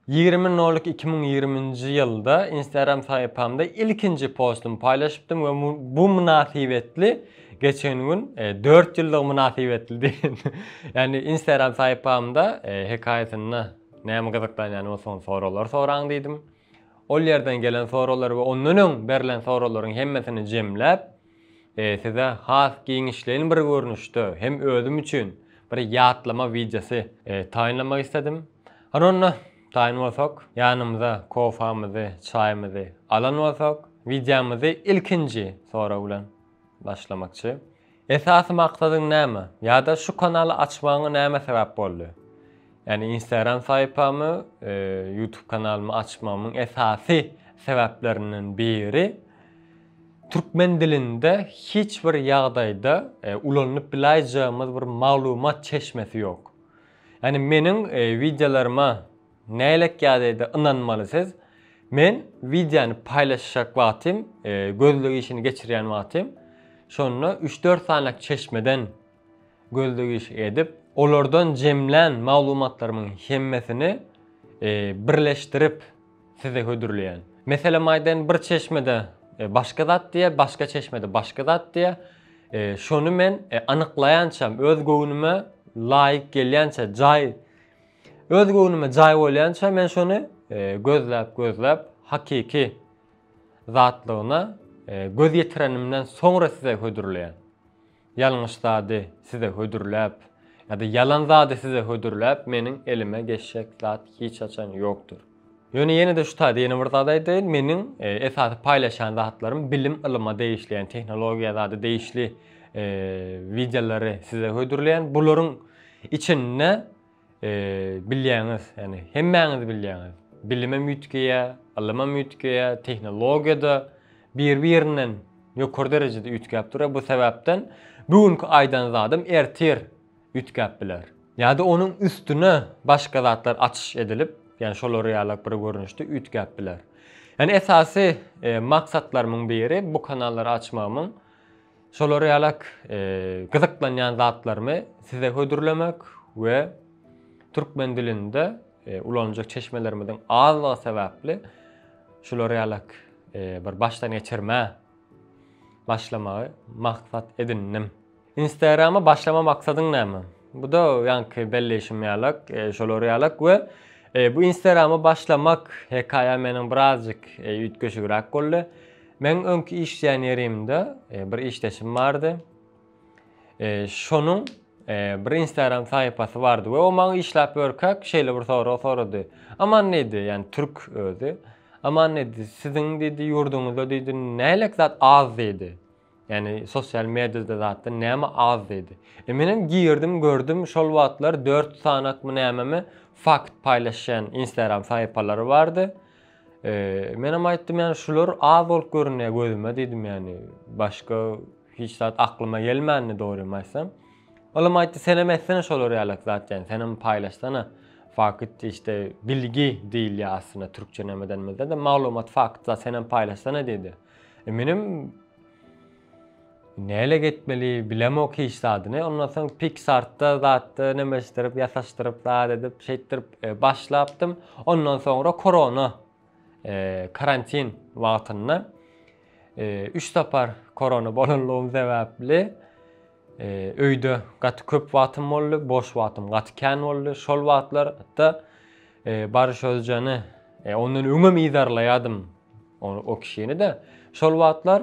Ýigrimi nolik iki müň ýigrimi nji ýylda Instagram sahypamda ilkinji postumy paýlaşypdym we bu mynasybetli geçen gün dört ýyllygy mynasybetli diýen ýagny Instagram sahypamda hekaýasynda näme gyzyklanýan bolsaňyz soraglar soraň diýdim. Ol ýerden gelen soraglar we ondan öň berlen soraglaryň hemmesini jemläp Size has giňişleýin bir görnüşde hem özüm üçin bir ýatlama wideosy taýynlamak isledim. Hany onda, taýyn bolsak, ýanymyza kofamyzy, çaýymyzy alan bolsak, wideomyzy ilkinji sorag bilen başlamakçy. Esasy maksadyň näme? Ýa-da şu kanaly açmagyňa näme sebäp boldy? Ýagny Instagram saýpamy, YouTube kanalymy açmagymyň esasy sebäplerinden biri Türkmen dilinde hiç bir ýagdaýda ulanylyp bilaýjagymyz bir maglumat çeşmesi ýok. Ýani meniň wideolaryma nälet ýadaýda ynanmaly siz? Men wideony paýlaşjak wagtym, gözleg işini geçirýän wagtym şonda üç dört sany çeşmeden gözleg işi edip, olardan jemlän maglumatlarymyň hemmesini birleşdirip, Size hödürleýän. Meselem aýdaýyn bir çeşmede başga zat diýýär, başga çeşmede başga zat diýýär. Şony men anyklaýançam öz göwnüme laýyk gelýänçä jaý öz göwnüme jaý bolýança men şony gözläp gözläp hakyky zatlygyna göz ýetirenimden soňra size hödürleýän. Ýalňyş zady size hödürläp ýa-da ýalan zady size hödürläp meniň elime geçjek zat hiç haçan ýokdur. Ýöne ýene-de şu taýda ýene bir zat aýdaýyn, meniň esasy paýlaşýan zatlarym bilim ylyma degişli ýagny tehnologiýa zada degişli wideolary size hödürleýän. Bularyň içinde Bilýäňiz, ýagny hemmäňiz bilýäňiz, bilimem üýtgeýär, ylymam üýtgeýär, tehnologiýa-da bir-birinden ýokary derejede üýtgäp durýar. Bu sebäpden bu günki aýdan zadam ertir üýtgäp biler. Ýa-da onuň üstüne başga zatlar açyş edilip, ýagny şolar ýalak bir görnüşde üýtgäp biler. Ýagny esasy maksatlarymyň biri bu kanallary açmagymyň Şolar ýalak gyzyklanýan zatlarymy size hödürlemek we türkmen dilinde ulanjak çeşmelerimiziň azlygy sebäpli şular ýalak bir başdan geçirmä başlamagy maksat edindim. Instagrama başlama maksadyň näme? Bu-da ýaňky belleýşim ýalak, şolar ýalak we bu Instagrama başlamak hekaýa meniň birazjyk üýtgeşigräk boldy. Meň öňki işleýän ýerimde bir işdeşim bardy. Şonuň bir Instagram sahypasy bardy we o maňa işläp ýörkäk şeýle bir sorag sorady. Aman diýdi, ýani türk özi. Aman diýdi, siziň diýdi ýurduňyzda diýdi nälik zat az diýdi. Ýani sosial mediada zatda näme az diýdi. E men hem girdim, gördüm, şol wagtlar 4 sanakmy nämemi fakt paýlaşýan Instagram sahypalary bardy. Menem aýtdym ýani şular az bolup görünýär gözüme diýdim ýani başga hiç zat aklyma gelmändi dogrymy aýtsam. Olam aýtdy senem etsene şolar ýalak zat ýani senem paýlaşsana fakyt işte bilgi diýilýär aslynda türkçe nämedenimizde de maglumat fakyt zat senem paýlaşsana diýdi. E, menem Nälik etmeli bilemok hiç zadyny ondan soň piksartda zatda nemeşdirip ýasaşdyryp zat edip şeýtdirip başlapdym ondan soňra korona karantin wagtynda üç sapar korona bolanlygym sebäpli öýde gaty köp wagtym boldy boş wagtym gaty kän boldy şol wagtlarda Baryş Özjany ondan öňem yzarlaýadym o kişini de şol wagtlar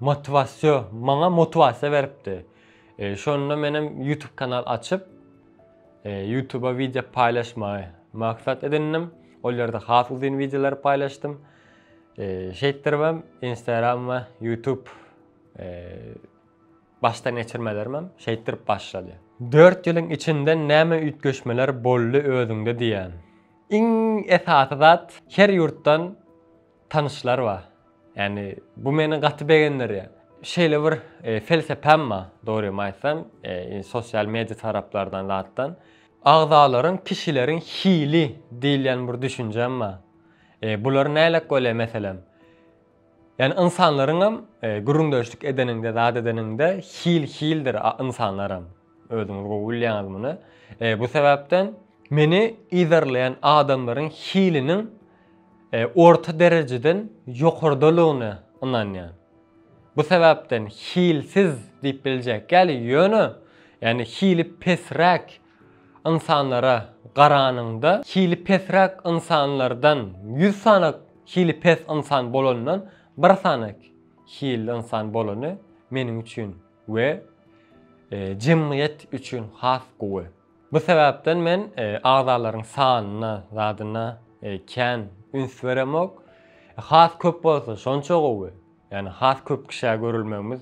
Motiwasiýa, maňa motiwasiýa beripdi. Şonda menem YouTube kanal açyp, YouTuba wideo paýlaşmagy maksat edindim. Ol ýerde has uzyn wideolary paýlaşdym. Şeýtdiribem Instagram we YouTube başdan geçirmelerimem şeýtdirip başlady. Dört ýylyň içinde näme üýtgeşmeler boldy özüňde diýýän? Iň esasy zat, her ýurtdan Tanyşlar bar. Ýani bu meni gaty begendirýär. Şeýle bir felsepäm bar, dogrymy aýtsam, sosial media taraplardan zatdan. Agzalaryň kişileriň hili diýilýän bir düşünjem bar. Bular nälet bolýar meselem? Ýani ynsanlaryňam gürrüňdeşlik edeniňde, zat edeniňde hil hildir ynsanlaram. Özüňiz gowy bilýäňiz muny. E, bu sebäpden meni yzarlaýan adamlaryň hiliniň e, orta derejeden ýokardalygyna ynanýan. Bu sebäpden hilsiz diýip biljek ýaly ýöne ýani hili pesräk ynsanlara garanyňda hili pesräk ynsanlardan 100 sany hili pes ynsan bolandan bir sany hili ynsan bolany meniň üçin we jemgyýet üçin has gowy. Bu sebäpden men agzalaryň sanyna, zadyna kän üns beremok. Has köp bolsa şonça gowy. Ýani has köp kişä görülmegimiz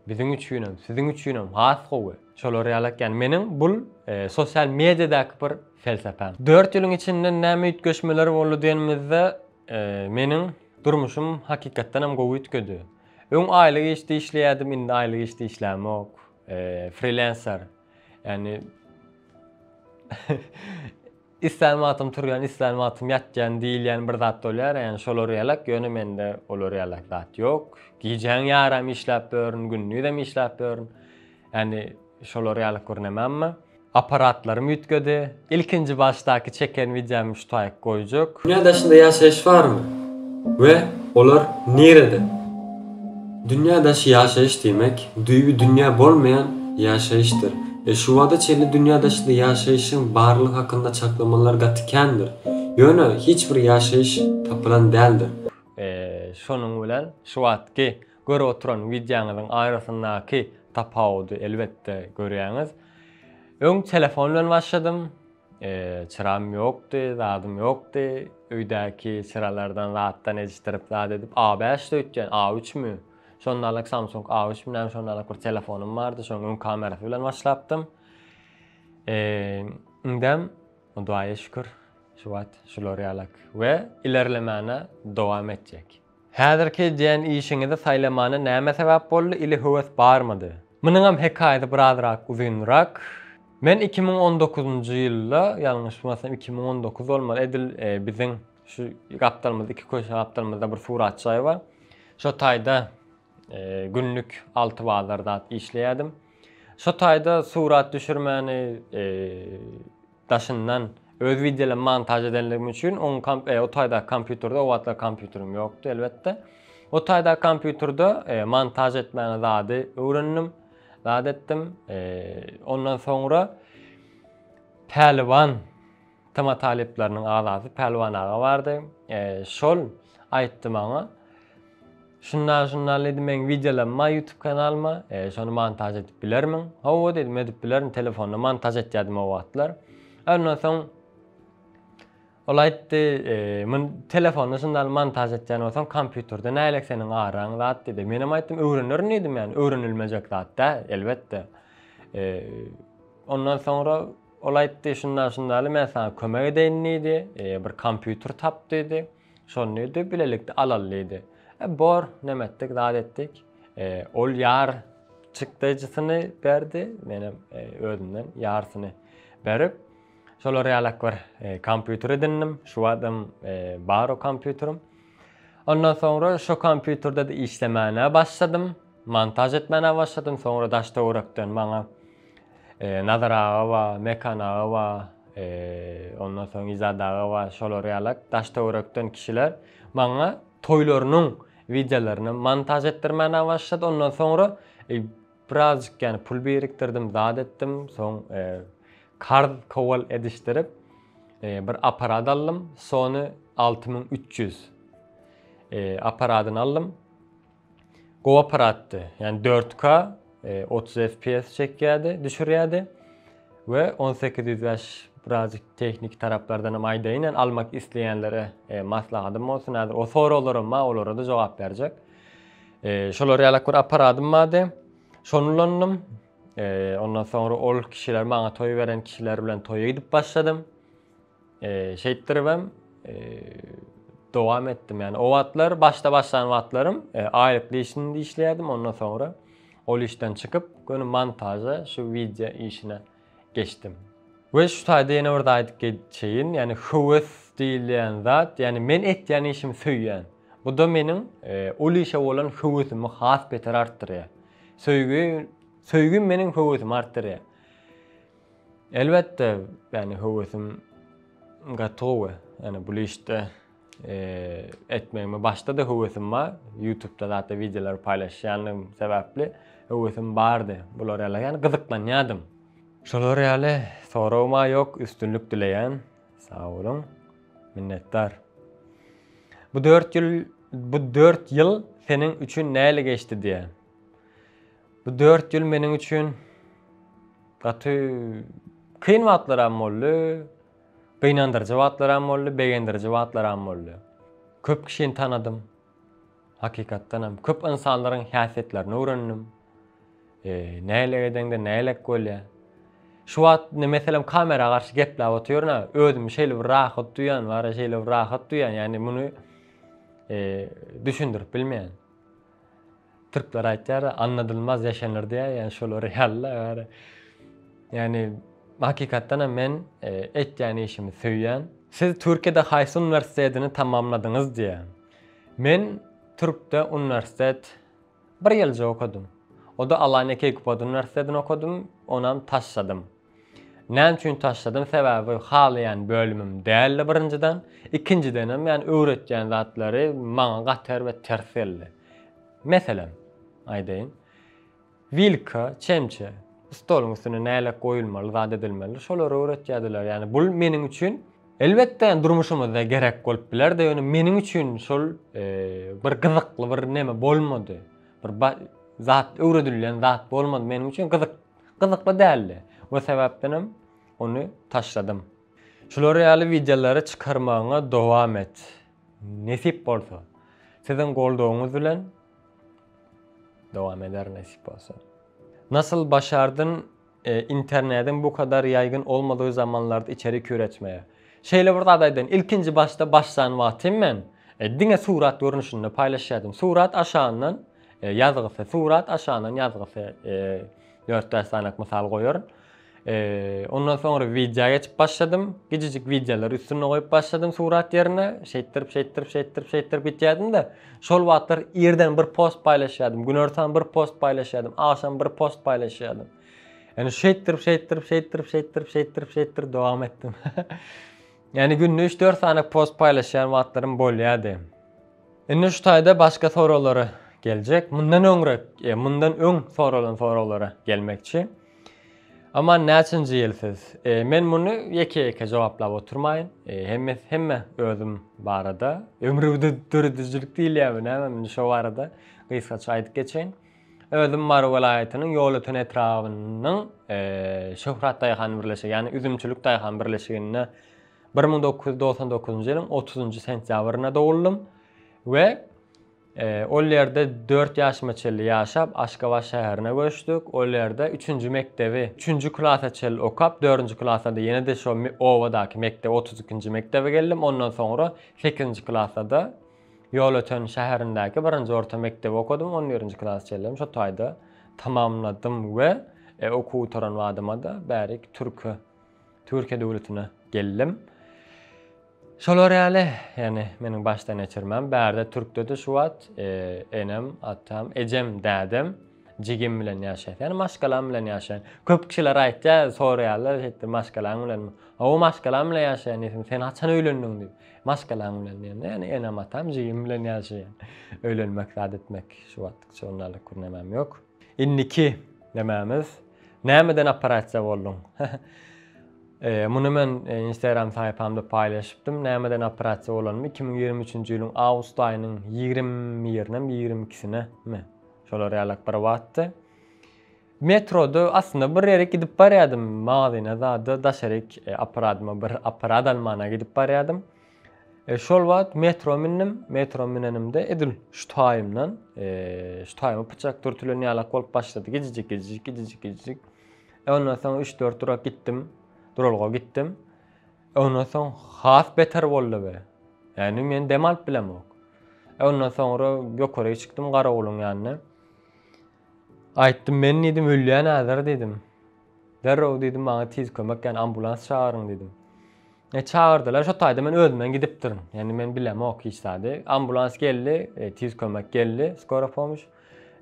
biziň üçinem, siziň üçinem has gowy. Şolar ýalak ýani meniň bul sosial mediýadaky bir felsepäm. Dört ýylyň içinde näme üýtgeşmeler boldy diýenimizde meniň durmuşym hakykatdanam gowy üýtgedi. Öň aýlyk işde işleýärdim, indi aýlyk işde işlämok. Freelancer. Ýani islän wagtym turýan, islän wagtym ýatýan diýilýän bir zat bolýar, ýani şolar ýalak, ýöne mende olar ýalak zat ýok. Gijäň ýaram işläp ýörün, gündizem işläp ýörün. Ýani şolar ýaly gurnemammy. Aparatlarym üýtgedi. Ilkinji başdaky çeken wideomy şu taýyk goýjak. Dünýä daşynda ýaşaýyş barmy we olar nirede? Dünýä daşy ýaşaýyş diýmek, düýbi dünýä bolmaýan ýaşaýyşdyr. E şu wagta çenli dünýä daşynda ýaşaýyşyň barlygy hakynda çaklamalar gaty kändir. Ýöne hiç bir ýaşaýyş tapylan däldir. E şonuň bilen şu wagtky Görüp oturan wideoňyzyň arasyndaky tapawudy elbetde görýäňiz. Öň telefon bilen başladym. Çyram ýokdy, zadym ýokdy. Öýdäki çyralardan zatdan ejişdirip zat edip A5 de öýtýän, A3 mi? Şondalyk Samsung A3 mi näme şondalyk bir telefonym bardy. Şoň öň kamerasy bilen başlapdym. Indem Hudaýa şükür şu wagt şular ýalak we ilerlemäne dowam etjek. Häzirki edýän işiňizi saýlamana näme sebäp boldy ili höwes barmydy? Munuňam hekaýasy birazrak uzynrak. Men iki müň on dokuzynjy ýylda, ýalňyşmasam iki müň on dokuz bolmaly, edil biziň şu gapdalymyzda iki köçe gapdalymyzda bir surat jaý bar. Şo taýda günlük alty bazar zat işleýärdim. Şo taýda surat düşürmäni Daşyndan, öz wideolarym montaž edenligim üçin oň komp o taýdaky kompýuterde, o wagtlar kompýuterim ýokdy elbetde. O taýdaky kompýuterde montaž etmäni zady öwrendim. Zat etdim. Ondan soňra Pälwan tema talyplarynyň agzasy Pälwan aga bardy. Şol aýtdy maňa. Şunda şunda ledi meň wideolamma ýutub kanalyma şony montaž edip bilermiň? Hawa dedim edip bilerin telefonda montaž etýädim o wagtlar. Ondan soň ol aýtdy mun telefonda şunda montaž etýän bolsaň kompýuterde nälik seniň araň zat diýdi. Menem aýtdym öwrenerin diýdim ýani öwrenilmejek zat däl elbetde. Ondan soňra ol aýtdy şunda şundaly men saňa kömek edeýin diýdi bir kompýuter tap diýdi. Şondy-da bilelikde alaly diýdi. E, bor, näme etdik, zat etdik. E, ol ýar çykdaýjysyny berdi, menem e, özümden ýarsyny berip, şolar ýalak bir e, kompýuter edindim. Şu wagtam e, bar o kompýuterim. Ondan soňra şu kompýuterde-de işlemäne başladym, montaž etmäne başladym. Soňra daş töwerekden maňa Nazar aga bar, Mekan aga bar, ondan soň Izat aga bar, şolar ýalak daş-töwerekden kişiler maňa toýlarynyň wideolaryny montaž etdirmäne başlady. Ondan soňra birazjyk ýany pul birikdirdim, zat etdim. Soň karz kowal edişdirip, bir apparat aldym, Sony alty müň üç ýüz apparadyny aldym. Gowy apparatdy. Ýani 4K, 30 fps çekýärdi, düşürýärdi. We 1805 birazjyk tehniki taraplardan hem aýdaýyn, ýani almak isleýänlere maslahatym bolsun, häzir o soraglaram bar, olara-da jogap berjek. Şolar ýalak bir apparatym bardy. Şony ulandym. Ondan soňra ol kişiler maňa toý beren kişiler bilen toýa gidip başladym. Şeýtdiribem dowam etdim. Ýani o wagtlar başda başlan wagtlarym e, aýlykly işinde işleýärdim. Ondan soňra ol işden çykyp, göni montaža, şu wideo işine geçdim. We şu taýda ýene bir zat aýdyp geçeýin. Ýani höwes diýilýän zat, ýani men etýän işimi söýýän. Bu da meniň e, ol işe bolan höwesimi has beter artdyrýar. Söýgi, söýgim meniň höwesimi artdyrýar. Elbetde, ýani höwesim gaty gowy. Ýani bul işde etmegime başda-da höwesim bar. Ýutubda zatda wideolar paýlaşýandygym sebäpli höwesim bardy. Bular ýala ýani gyzyklanýadym. Şolar ýaly soragym-a ýok, üstünlik dileýän. Sag boluň. Minnetdar. Bu dört ýyl bu dört ýyl seniň üçin näle geçdi diýýän. Bu dört ýyl meniň üçin gaty kyn wagtlaram boldy, gynandyryjy wagtlaram boldy, begendiriji wagtlaram boldy. Köp kişini tanadym. Hakykatdanam köp ynsanlaryň häsiýetlerini öwrendim. E, näle edeňde nälelik bolýar. Şu wagt indi meselem kamera garşy gepläp otyryn, özümi şeýle bir rahat duýýan, bara şeýle bir rahat duýýan, ýagny muny e, düşündirip bilmeýän. Türkler aýtýar, anladylmaz yaşanır diýýär, ýagny şolar ýaly-da bari. Ýagny hakykatdan hem men e, etýän işimi söýýän. Siz Türkiýede haýsy uniwersitetini tamamladyňyz diýýär. Men Türkde uniwersitet bir ýylja okadym. O-da Alanya Keykubad uniwersitetini okadym, onam taşladym. Näme üçin taşladym sebäbi halaýan bölümim däldi birinjiden, ikinjidenem ýani öwretýän zatlary maňa gaty erbet ters geldi. Meselem aýdaýyn. Wilka, çemçe, stoluň üstüne nälet goýulmaly zat edilmeli şolary öwretýärdiler ýani bul meniň üçin elbetde ýani durmuşymyzda gerek bolup bilerdi ýöne meniň üçin şol bir gyzykly bir neme bolmady. Bir zat öwredilýän zat bolmady meniň üçin gyzyk Gyzykly däldi o sebäpdenem ony taşladym. Şular ýaly wideolary çykarmagyňa dowam et. Nesip bolsa. Siziň goldawyňyz bilen dowam eder nesip bolsa. Nasyl başardyn internediň bu kadar ýaýgyn olmadygy zamanlarda içerik üretmegi? Şeýle bir zat aýdaýyn ilkinji başda başlan wagtym men diňe surat görnüşinde paýlaşýadym surat aşagyndan Ýazgysy, Surat aşagyndan ýazgysy dört bäş sanak mysal goýaryn. Ondan soňra wideo geçip başladym. Gijijik wideolary üstünde goýup başladym surat ýerine. Şeýtdirip, şeýtdirip, şeýtdirip, şeýtdirip gitýärdim-de, şol wagtlar irden bir post paýlaşýardym, günortan bir post paýlaşýardym, agşam bir post paýlaşýardym. Ýani şeýtdirip, şeýtdirip, şeýtdirip, şeýtdirip, şeýtdirip, şeýtdirip dowam etdim. Ýani günde üç-dört sanak post paýlaşýan wagtlarym bolýardy. Indi şu taýda başga soraglara geljek. Mundan öňräk, e, mundan öň soralan soraglara gelmekçi. Aman näçinji ýyl siz? E, men muny ýeke-ýeke jogaplap oturmaýyn. E, hemme hemme özüm barada, ömrümde döredijilik diýilýärmi näme, indi şo barada gysgaça aýdyp geçeýin. Özüm Mary welaýatynyň Ýolöten etrabynyň e, Şöhrat daýhan birleşigi, ýagny üzümçilik daýhan birleşiginde Bir müň dokuz ýüz togsan dokuzynjy ýylyň otuzynjy sentýabrynda doguldym we ol ýerde dört ýaşyma çenli ýaşap, Aşgabat şäherine göçdük. Ol ýerde üçünji mekdebi, üçünji klasa çenli okap, dördünji klasda-da ýene-de şo obadaky mekdep, otuz ikinji mekdebe geldim. Ondan soňra sekizinji klasda-da Ýolöten şäherindäki birinji orta mekdebi okadym, on birinji klasa çenli hem şo taýda tamamladym we okuw gutaran badyma-da bärik türke Türkiýe döwletine geldim. Şolar ýaly, ýani meniň başdan geçirmem. Bärde türkdedi şu wagt, e, enem, atam, ejem, dädem, jigim bilen ýaşaýar. Ýani maşgalam bilen ýaşaýar. Köp kişiler aýtýar, soraýarlar, şeýtdi, maşgalaň bilen. Aw, maşgalam bilen ýaşaýan diýdim. Sen haçan öýlendiň diýip. Maşgalaň bilen diýende, ýani enem, atam, jigim bilen ýaşaýar. Öýlenmek, zat etmek şu wagt şondalyk kürnemem ýok. Indiki nämämiz? Nämeden operasiýa bolduň? Muny men Instagram saýpamda paýlaşypdym. Nämeden operasiýa bolanym iki müň ýigrimi üçünji ýylyň awgust aýynyň ýigrimi birinem, ýigrimi ikisinemi, şolar ýalak bir wagtdy. Metroda aslynda bir ýere gidip barýardym, magazyna zada daşaryk aparadyma bir aparat almana gidip barýardym. Şol wagt metro mündim. Metro münenimde edil şu taýymdan, şu taýyma pyçak dürtülen ýalak bolup başlady. Gijijik, gijijik, gijijik, gijijik. Ondan soň 3-4 durak gitdim. Duralga gitdim. Ondan soň has beter boldy be. Ýani men dem alyp bilemok. Ondan soňra ýokary çykdym garawulyň ýanyna. Aýtdym, men diýdim, ölýän häzir diýdim. Derrew diýdim, maňa tiz kömek, ýani ambulans çagyryň diýdim. E, çagyrdylar, şo taýda men özümden gidipdirin. Ýani men bilemok hiç zady. Ambulans geldi, e, tiz kömek geldi, skora pomoş.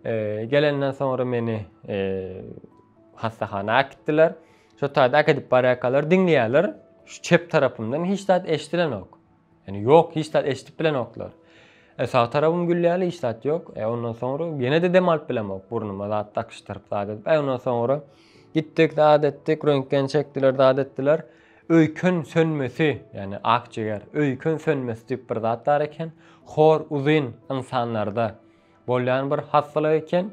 E, gelenden soňra meni e, hassahana äkitdiler. Şo taýda äkidip barýarkalar diňleýärler. Şu çep tarapymdan hiç zat eşidilenok. Ýöne ýok hiç zat eşidip bilenoklar. E sag tarabym gülýärli hiç zat ýok. E ondan soňra ýene-de dem alyp bilemok. Burnuma zat dakyşdyryp zat edip. E ondan soňra gitdik zat etdik, röntgen çekdiler zat etdiler. Öýken sönmesi, ýagny akjiger, öýken sönmesi diýip bir zat bar eken. Hor uzyn ynsanlarda bolýan bir hassalyk eken.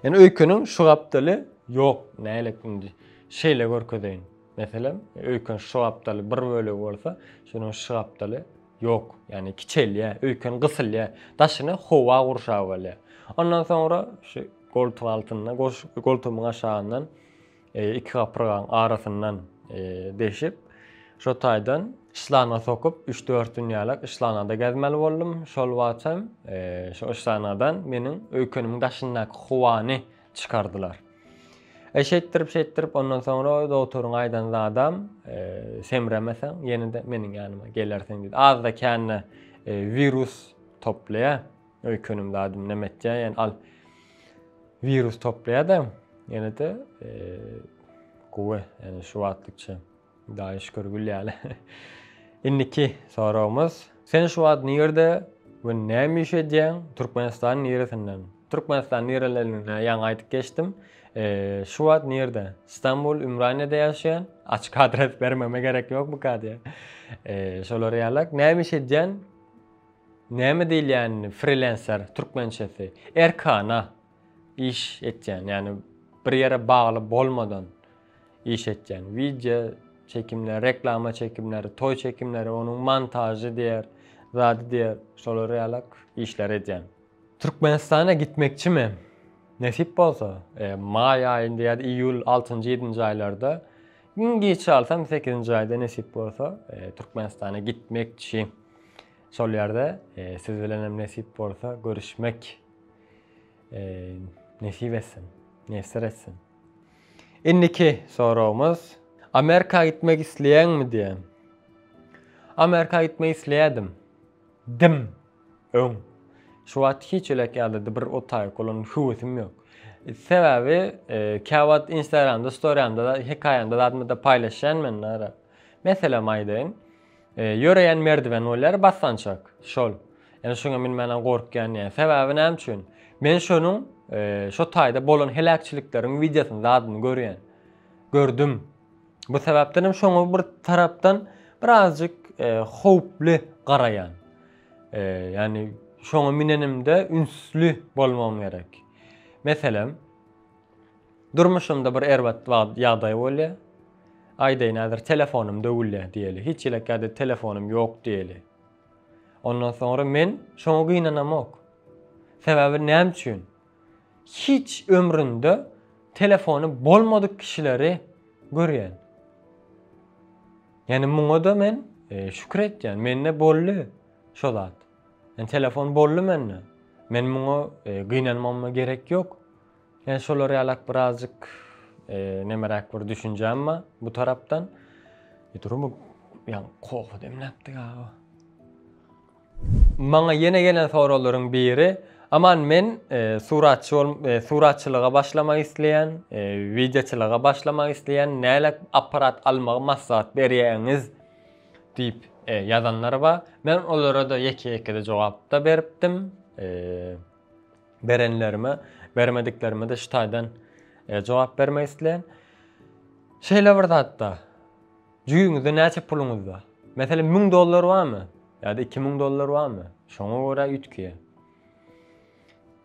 Ýöne öýkeniň şu gapdaly ýok. Nälet indi. Şeýle görkezeýin. Meselem, öýken şu gapdaly bir bölegi bolsa, şunuň şu gapdaly ýok, ýagny kiçelýär, öýken gysylýar, daşyny howa gurşap alýar. Ondan soňra şu goltuň altynda, goltugymyň aşagyndan e, iki gapyrgaň arasyndan e, deşip, şo taýdan şlanga sokup, 3-4 dünýälik şlangada gezmeli boldum. Şol wagtam e, şu şlangadan meniň öýkenimiň daşyndaky howany çykardylar. E şeýtdirip şeýtdirip ondan soňra doktoryň aýdan zadam e, semremeseň ýene-de meniň ýanyma gelersiň diýdi. Azda kände e, virus toplaýar. Öýkenim zadym näme etýär? Ýani al virus toplaýar-da ýene-de e, gowy, ýani şu wagtlykça Daýy şükür gül ýaly. Indiki soragymyz. Sen şu wagt nirde we näme iş edýäň? Türkmenistanyň niresinden? Türkmenistan nirelerine ýaňy aýdyp geçdim. Şu wagt nirde? Stambul, Ümraniýede ýaşaýan. Açyk adres bermeme gerek ýok bu kadiýa. Şolar ýaly. Näme iş edýän? Näme diýilýänini freelancer türkmençesi. Erkana iş etýän, ýani bir ýere bagly bolmadan. iş etýän. Wideo çekimleri, reklama çekimleri, toý çekimleri, onuň montažy diýer, zady diýer, şolar ýalak işleri edýän. Türkmenistana gitmekçimi? Nesip bolsa, e, maý aýynda ýa-da iýul altynjy, ýedinji aýlarda, iň giç çalsam sekizinji aýda nesip bolsa, e, Türkmenistana gitmekçi. Şol ýerde e, siz bilen hem nesip bolsa görüşmek e, nesip etsin, miýesser etsin. Indiki soragymyz Amerika gitmek isleýäňmi diýen. Amerika gitmek isleýädim. Dim. Öň. Şu wagt hiç elek ýalydy bir otaýyk bolan höwesim ýok. Sebäbi e, käwagt Instagramda, storyamda, hekaýamda zadmyda paýlaşýan men ara. Meselem aýdaýyn. Ýöreýän merdiwen bolýar basgançak. Şol. Ýöne şoňa münmänem gorkýan ýa. Sebäbi näme üçin? Men şonuň şo taýda bolan heläkçilikleriň wideosyny zadyny görýän. Gördüm. Bu sebäpdenem şoňa bir tarapdan birazjyk howply garaýan. Ýani şoňa münenimde ünsli bolmagym gerek. Meselem. Durmuşymda bir erbat wagt ýagdaý bolýa. Aýdaýyn häzir telefonym döwülýä diýeli. Hiç elek ýa-da telefonym ýok diýeli. Ondan soňra men şoňa gynanamok. Sebäbi näme üçin? Hiç ömründe telefony bolmadyk kişileri görýän. Ýani muňa-da men şükür etýän. Mende boldy şo zat. Ýani telefon boldy mende. Men muňa gynanmama gerek ýok. Ýa şolar ýalak birazjyk nemeräk bir düşünjäm bar bu tarapdan. Durumy ýa kofe demläpdi gaba. Maňa ýene gelen soraglaryň biri, Aman men suratçy bol, suratçylyga başlamak isleýän, wideoçylyga başlamak isleýän, nälet apparat almagy maslahat berýäňiz? diýip ýazanlar bar. Men olara-da ýeke-ýekede jogapda beripdim. berenlerime, bermediklerime-de şu taýdan jogap bermek isleýän. Şeýle bir zatda, jüýüňizde näçe puluňyz bar? Meselem, 1000 dollar barmy? Ýa-da 2000 dollar barmy? Şoňa görä üýtgeýär.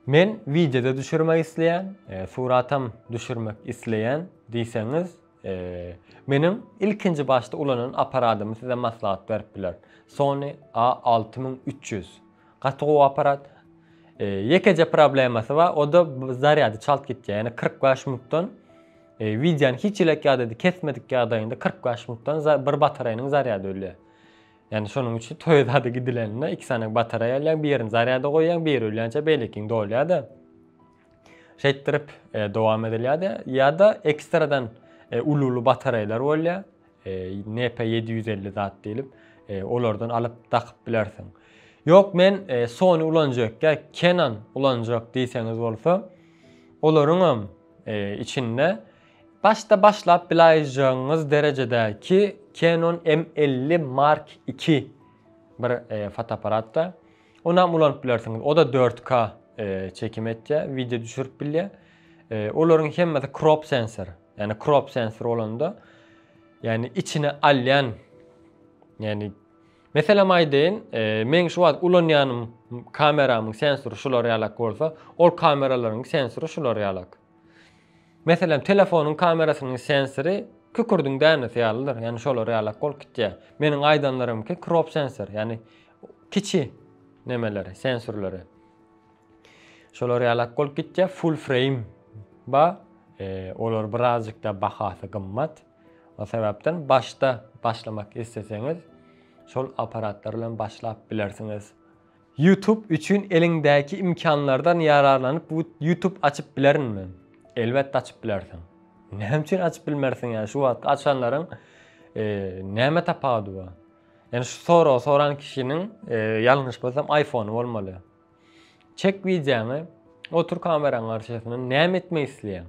Men wideoda düşürmek isleýän, e, suratam düşürmek isleýän diýseňiz, Meniň ilkinji başda ulanan aparadymy size maslahat berip biler. Sony a alty müň üç ýüz. Gaty gowy aparat. Ýekeje problemasy bar, o-da zarýady çalt gitýär. Ýani kyrk bäş minutdan wideony hiç elek ýadady kesmedik ýagdaýynda kyrk bäş minutdan bir batareýanyň zarýady ölýär. Ýani şonuň üçin toýa zady gidileninde iki sany batareýa alýaň, birini zarýada goýýaň, biri ölýänçä beýlekini dolýar-da. Şeýtdirip dowam edilýärdi. Ýa-da ekstradan uly-uly batareýalar bolýar. NP 750 zat diýlip, olardan alyp dakyp bilersiň. Ýok, men Sony ulanjak ýa Canon ulanjak diýseňiz bolsa, olaryňam içinde başda başlap bilaýjagyňyz derejedäki Canon M50 Mark II bir fotoapparatda. Onam ulanyp bilersiňiz. Oda 4K çekim etýä, wideo düşürip bilýä. Olaryň hemmesi crop sensor. Ýani crop sensor bolanda ýani içine alýan ýani meselem aýdaýyn, men şu wagt ulanýanym kameramyň sensory şular ýalak bolsa, ol kameralaryň sensory şular ýalak. Meselem telefonyň kamerasynyň sensory kükürdiň dänesi ýalydyr. Ýani şolar ýalak bolup gitýä. Meniň aýdanlarymky crop sensor. Ýani kiçi nemeleri, sensurlary. Şolar ýalak bolup gitýär, full frame ba, e, olar birazcykda bahasy gymmat. O sebäpden başda başlamak isleseňiz, şol apparatlar bilen başlap bilersiňiz. YouTube üçin eliňdäki imkanlardan ýararlanyp bu YouTube açyp bilerinmi? Elbetde açyp bilersiň. Näme üçin açyp bilmersiň ýa şu wagtky açanlaryň e, näme tapawudy bar? Ýani şu soragy soran kişiniň ýalňyşmasam iPhone bolmaly. Çek wideoňy, otur kameraň garşysyna näme etmek isleýäň?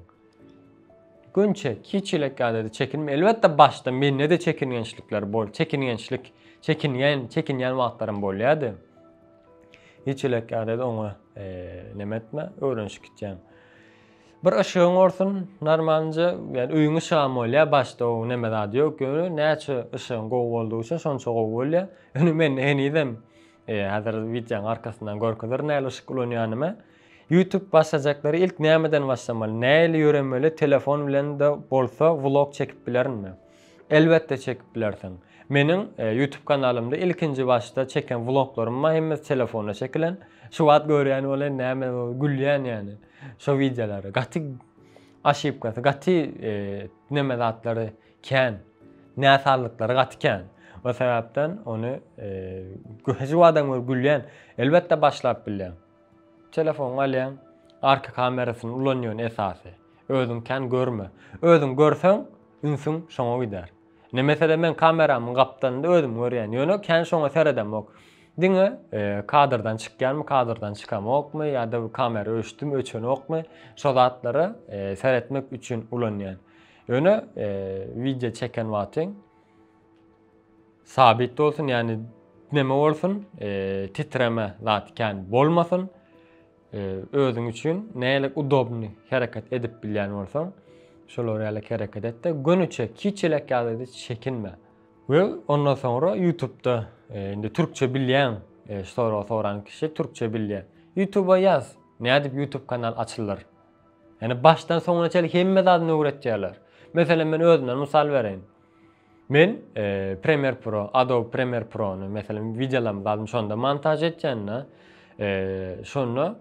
Gün çek, hiç çilek ýadady çekinme. Elbetde başda mende de çekingençlikler bol, çekingençlik, çekingen, çekinýän wagtlarym bolýady. Hiç çilek ýadady oňa näme etme, öwrenişip gitýäň. Bir yşygyň olsun normalnje ýani öýüň yşygam bolýa başda o neme zady ýok ýöne näçe yşygyň gowy boldugy üçin şonça gowy bolýa ýöne mende henizem hazir wideoň arkasyndan görkezerin nähili yşyk ulanýanymy ýutub başlajaklary ilk nämeden başlamaly nähili ýöremeli telefon bilende bolsa vlog çekip bilerinmi elbetde çekip bilersiň meniň ýutub kanalymda ilkinji başda çeken vloglarym bar hemmesi telefonda çekilen şu wagt görýän bolan näme gülýän ýani. Şo wideolary gaty aşypkasy gaty neme zatlary kän. Näsazlyklary gaty kän. O sebäpden ony göhji wadan gör gülýän. Elbetde başlap bilýän. Telefon alýan, arka kamerasyny ulanýan esasy. Özüň kän görme. Özüň görseň ünsüň şoňa gider. Ne mesele men kameramyň gapdalynda özüm görýän ýöne kän şoňa seredemok diňe kadrdan çykýanmy kadrdan çykamokmy ýada kamera öçdümi öçenokmy şo zatlara seretmek üçin ulanýan ýöne wideo çeken wagtyň sabyt bolsun ýani neme bolsun titreme zat kän bolmasyn Özüň üçin nälik udobny hereket edip bilýän bolsaň, şolar ýaly hereket et-de, göniçe, kiçiläk ýagdaýda çekinme. We ondan soňra Ýutubda, indi türkçe bilýän, şu soragy soran kişi türkçe bilýär. Ýutuba ýaz, nädip Ýutub kanal açylar. Ýani başdan soňuna çenli hemme zadyny öwretýärler. Meselem men özümden mysal bereýin. Men Premiere Pro, Adobe Premiere Pro-ny, meselem, wideolarymy zadymy şonda montaž etýän-de, şonda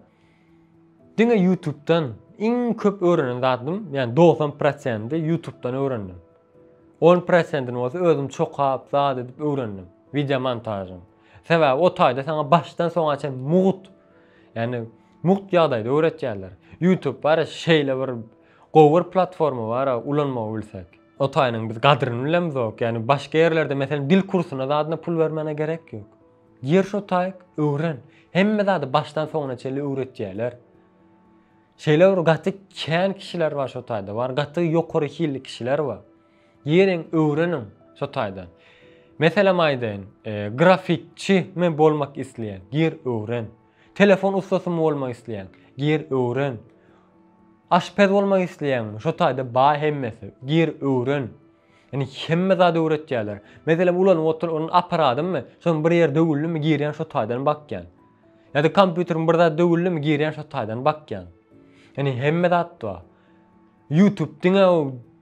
diňe YouTube-dan iň köp öwrenen zadym, ýagny dogsan prosenti YouTube-dan öwrendim. On prosentini bolsa özüm çokap, zat edip öwrendim, wideomontažyň. Sebäbi o taýda saňa başdan soňa çenli mugt, ýagny mugt ýagdaýda öwretýärler. YouTube bar, şeýle bir gowy bir platforma bar, ulanmagy bilsek. O taýynyň biz gadryny bilemizok. Ýagny başga ýerlerde meselem dil kursyna zadyna pul bermäne gerek ýok. Gir şo taýyk, öwren. Hemme zady başdan soňuna çenli öwretýärler. Şeýle bir gaty kän kişiler bar şo taýda. Bar gaty ýokary hilli kişiler bar. Giriň, öwreniň şo taýdan. Meselem aýdaýyn, e, grafikçi men bolmak isleýän. Gir, öwren. Telefon ussasymy bolmak isleýäň? Gir öwren. Aşpez bolmak isleýäňmi? Şo taýda bar hemmesi. Gir öwren. Ýani hemme zady öwretýärler. Meselem ulanyp otur ony aparadymmy? Şonuň bir ýeri döwüldimi girýän şo taýdan bakýan. Ýa-da kompýuteriň bir zady döwüldimi girýän şo taýdan bakýan. Ýani hemme zat bar. Youtube diňe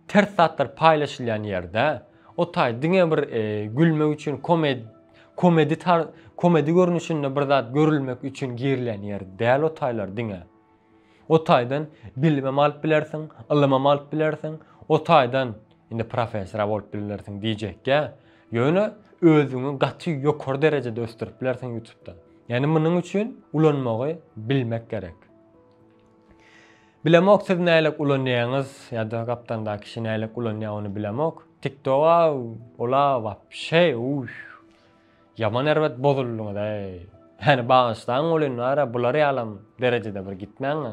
ters zatlar paýlaşylýan ýer dä. O taý diňe bir gülmek üçin komedi komedi tar komedi görnüşinde bir zat görülmek üçin girilýän ýer däl o taýlar diňe. O taýdan bilimem alyp bilersiň, ylymam alyp bilersiň, o taýdan indi professora bolup bilersiň diýjekkä. Ýöne özüňi gaty ýokary derejede ösdürip bilersiň Youtube-da. Ýani munuň üçin ulanmagy bilmek gerek. Bilemok siz nälik ulanýaňyz ýada gapdanda kişi nälik ulanýa ony bilemok tiktoga ola wapşe uýh ýaman erbet bozuldyňyz äý meni bagyşlaň welin wara bular ýalam derejede bir gitmäň a.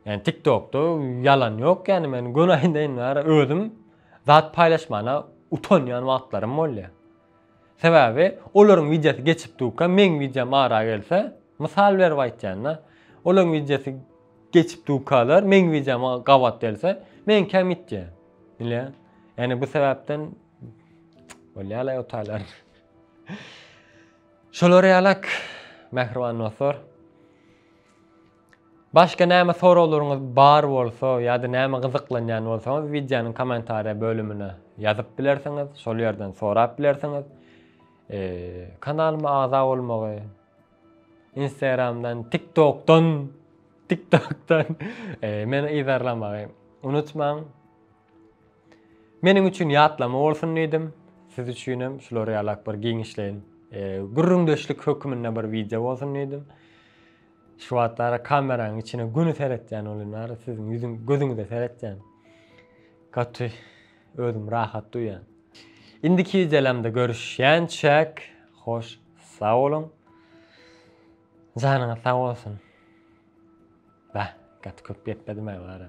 Ýani tiktokda ýalan ýok ýani men göni aýdaýyn wara özüm zat paýlaşmana utanýan wagtlarym bolýa. Sebäbi olaryň wideosy geçip durka meň wideom ara gelse, mysal berip aýtýanda, olaryň wideosy geçip durkalar meň wideoma gabat gelse, meňkä mitýär. Nile? Ýani bu sebäpden bolýar la otaýlar. Şolar ýalak mähriban dostlar. Başga näme soraglaryňyz bar bolsa ýa-da näme gyzyklanýan bolsaňyz wideonyň kommentariýa bölümine ýazyp bilersiňiz, şol ýerden sorap bilersiňiz. Kanalyma agza bolmagy, Instagramdan, TikTokdan, TikTokdan meni yzarlamagy unutmaň. Meniň üçin ýatlama bolsun diýdim. Siz üçin hem şulary ýalak bir giňişleýin gürrüňdeşlik hökmünde bir wideo bolsun diýdim. Şu wagtlara kameranyň içine güni seretýän welin bari siziň ýüzüň gözüňize seretýän. Gaty özüm rahat duýýan. Indiki wideolamda görüşýänçäk hoş sag boluň. Janyňyz sag bolsun. Ba, gaty köp gepledim-ä bari.